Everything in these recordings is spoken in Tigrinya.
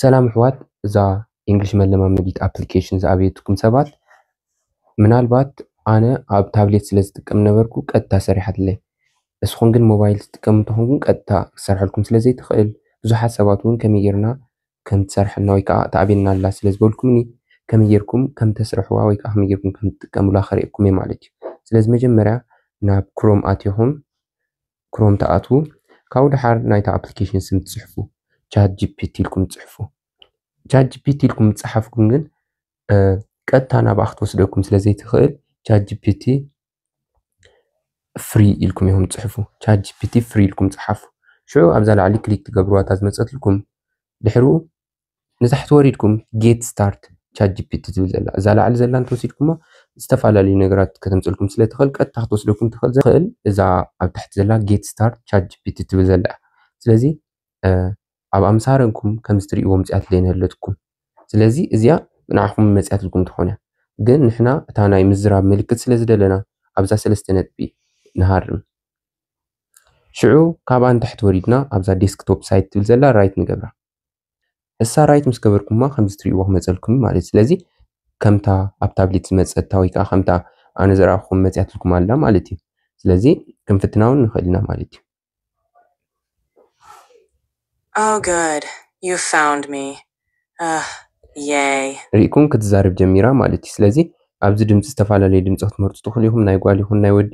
ሰላም ኣሕዋት እዛ ኢንግሊሽ መለማመዲት ኣፕሊኬሽን ዝኣበየትኩም ሰባት ምናልባት ኣነ ኣብ ታብሌት ስለ ዝጥቀም ነበርኩ ቀጥታ ሰሪሓትለይ እስኹም ግን ሞባይል ትጥቀሙ እንተኾን ግን ቀጥታ ክሰርሐልኩም ስለ ዘይትኽእል ብዙሓት ሰባት እውን ከመይ ጌርና ከም ትሰርሐልና ወይ ከዓ ተኣብየና ኣላ ስለ ዝበልኩምኒ ከመይ ጌርኩም ከም ተስርሕዋ ወይ ከዓ ከመይ ጌርኩም ከም ትጥቀሙላ ከርእየኩም እየ ማለት እዩ ስለዚ መጀመርያ ናብ ክሮም ኣትኹም ክሮም ትኣትዉ ካብኡ ድሓር ናይታ ኣፕሊኬሽን ስም ትጽሕፉ ቻት ጂፒቲ ኢልኩም ትጽሕፉ ቻት ጂፒቲ ኢልኩም ትጽሓፍኩም ግን ቀጥታ ናብኣ ክትወስደኩም ስለ ዘይትኽእል ቻት ጂፒቲ ፍሪ ኢልኩም ኢኹም ትጽሕፉ ቻት ጂፒቲ ፍሪ ኢልኩም ጽሓፉ ሽዑ ኣብዛ ላዕሊ ክሊክ ትገብርዋ እታ ዝመፀትልኩም ድሕሩ ንታሕቲ ወሪድኩም ጌት ስታርት ቻት ጂፒቲ ዝብል ዘላ እዛ ላዕሊ ዘላ እንተወሲድኩሞ ዝተፈላለዩ ነገራት ከተምፅልኩም ስለ ትኽእል ቀጥታ ክትወስደኩም ትኽእል ዘኽእል እዛ ኣብ ታሕቲ ዘላ ጌት ስታርት ቻት ጂፒቲ ትብል ዘላ እያ ስለዚ ኣብ ኣምሳረንኩም ከምዚ ትሪእዎ ምፅያት ዘይንህለትኩም ስለዚ እዚኣ ንዓኹም መፅያትልኩም ትኾን እያ ግን ንሕና እታ ናይ ምዝራብ ምልክት ስለ ዝደለና ኣብዛ ሰለስተ ነጥቢ ንሃርም ሽዑ ካብኣ ንታሕቲ ወሪድና ኣብዛ ዴስክቶፕ ሳይት ትብል ዘላ ራይት ንገብራ ንሳ ራይት ምስ ገበርኩማ ከምዚ ትሪእዎ ክመፀልኩም እዩ ማለት ስለዚ ከምታ ኣብ ታብሌት ዝመፀታ ወይ ከዓ ከምታ ኣነ ዝረኣኹም መፅያትልኩም ኣላ ማለት እዩ ስለዚ ክንፍትና እውን ንኽእል ኢና ማለት እዩ Oh good you found me ugh yay ሪእኩም ክትዛረብ ጀሚራ ማለት እዩ ስለዚ ኣብዚ ድምፂ ዝተፈላለዩ ድምፂ ክትመርፁ ትኽእሉ ኢኹም ናይ ጓል ይኹን ናይ ወዲ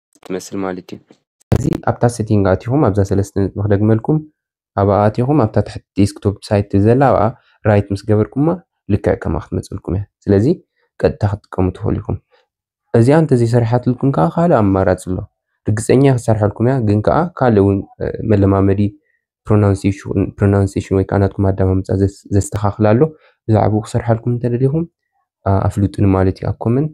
ትመስል ማለት እዩ። ስለዚ ኣብታ ሴቲንግ ኣቲኹም ኣብዛ ሰለስተ ነጥቢ ክደግመልኩም ኣብኣ ኣቲኹም ኣብታ ትሕቲ ዴስክቶፕ ሳይት ዘላ ኣብኣ ራይት ምስ ገበርኩማ ልክዕ ከምኣ ክትመጸልኩም እያ። ስለዚ ቀጥታ ክትጥቀሙ ትኽእሉ ኢኹም። እዚኣ እንተዘይሰሪሓትልኩም ከዓ ካልእ ኣማራጺ ኣሎ። ርግጸኛ እያ ክትሰርሐልኩም እያ ግን ከዓ ካልእ እውን መለማመዲ ፕሮናንሴሽን ወይ ከዓ ናትኩም ኣደማምጻ ዘስተኻኽል ኣሎ። ብዛዕባኡ ክሰርሓልኩም እንተደሊኹም ኣፍልጡኒ ማለት እዩ ኣብ ኮመንት።